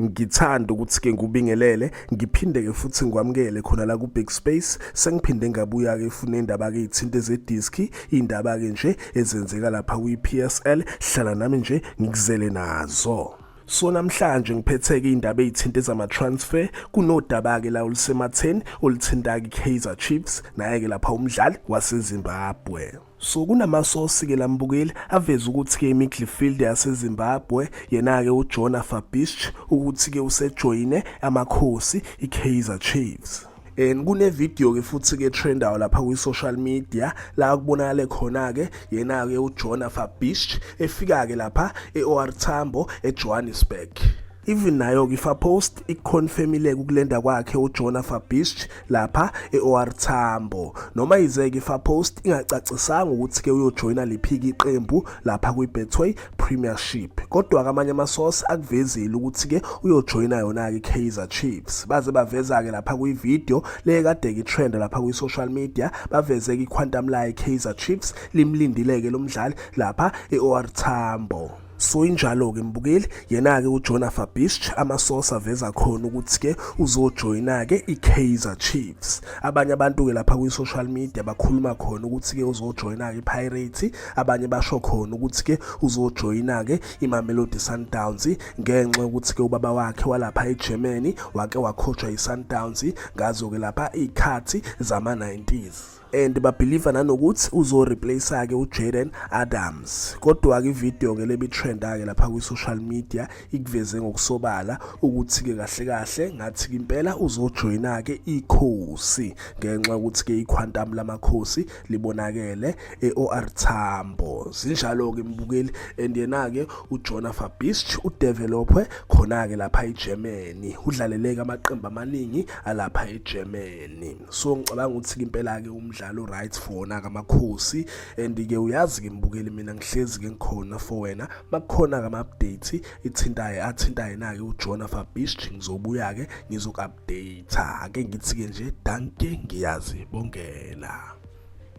Ngithanda ukuthi ke ngubingelele ngiphinde ke futhi ngikwamukele khona la ku Big Space sengiphinde ngabuya ke funa indaba ke ithinte ze disc indaba ke nje ezenzeka lapha kwi PSL hlala nami nje ngikuzele nazo So namhlanje ngiphetheke indaba ezithinta ezama transfer kunodaba ke la olusematheni oluthinta ke Kaizer Chiefs naye ke lapha umdlali waseZimbabwe So kunamasosi ke lambukeli aveza ukuthi ke imidfield yaseZimbabwe yena ke uJona Fabisch ukuthi ke usejoyine amakhosi iKaizer Chiefs. and kunevideo ke futhi ke trendayo lapha kwi-social media la kubonakale khona-ke yena-ke ujona fabish efika-ke lapha e-or tambo ejohannesburg Even nayo-ke iFapost ikuconfirmile ukulenda kwakhe uJona Fabisc lapha e-OR Tambo. Noma yize-ke iFapost ingacacisanga ukuthi-ke uyojoyina liphiki iqembu lapha kwiBetway Premiership. Kodwa-ke amanye amasource akuvezile ukuthi-ke uyojoyina yona-ke iKaizer Chiefs. Baze baveza-ke lapha kwivideo le kade-ke itrend lapha kwi-social media baveze-ke iquantum layo iKaizer Chiefs limlindile-ke lo mdlali lapha e-OR Tambo. So injalo-ke mbukeli yena-ke ujona fabisch amasosa aveza khona ukuthi-ke uzojoyina-ke i-kaizer chiefs abanye abantu-ke lapha kwi-social media bakhuluma khona ukuthi-ke uzojoyina-ke ipirates abanye basho khona ukuthi-ke uzojoyina-ke imamelodi sundowns ngenxa yokuthi-ke ubaba wakhe walapha egermany wake wakhotshwa yi-sundowns ngazo-ke lapha iy'khathi zama-90s and babhiliva nanokuthi uzoreplace-ke ujaden adams kodwa-ke ividiyo-ke lebitrenda-ke lapha kwi-social media ikuveze ngokusobala ukuthi-ke kahle kahle ngathi-ke impela uzojoyina-ke ikhosi ngenxa yokuthi-ke ikhwantamu lamakhosi libonakele e-or tambo zinjalo-ke mbukeli and yena-ke ujona fabist udevelopwe khona-ke lapha egermany udlaleleke amaqembu amaningi alapha egermany nini so ngicabanga ukuthi ke impela ke umdlalo right for wona kamakhosi and ke uyazi ke mbukeli mina ngihlezi ke ngikhona for wena makukhona ke ama-update ithintaye athinta yena ke ujona fabish ngizobuya ke ngizoku-update ake ngithi ke nje danke ngiyazi bongela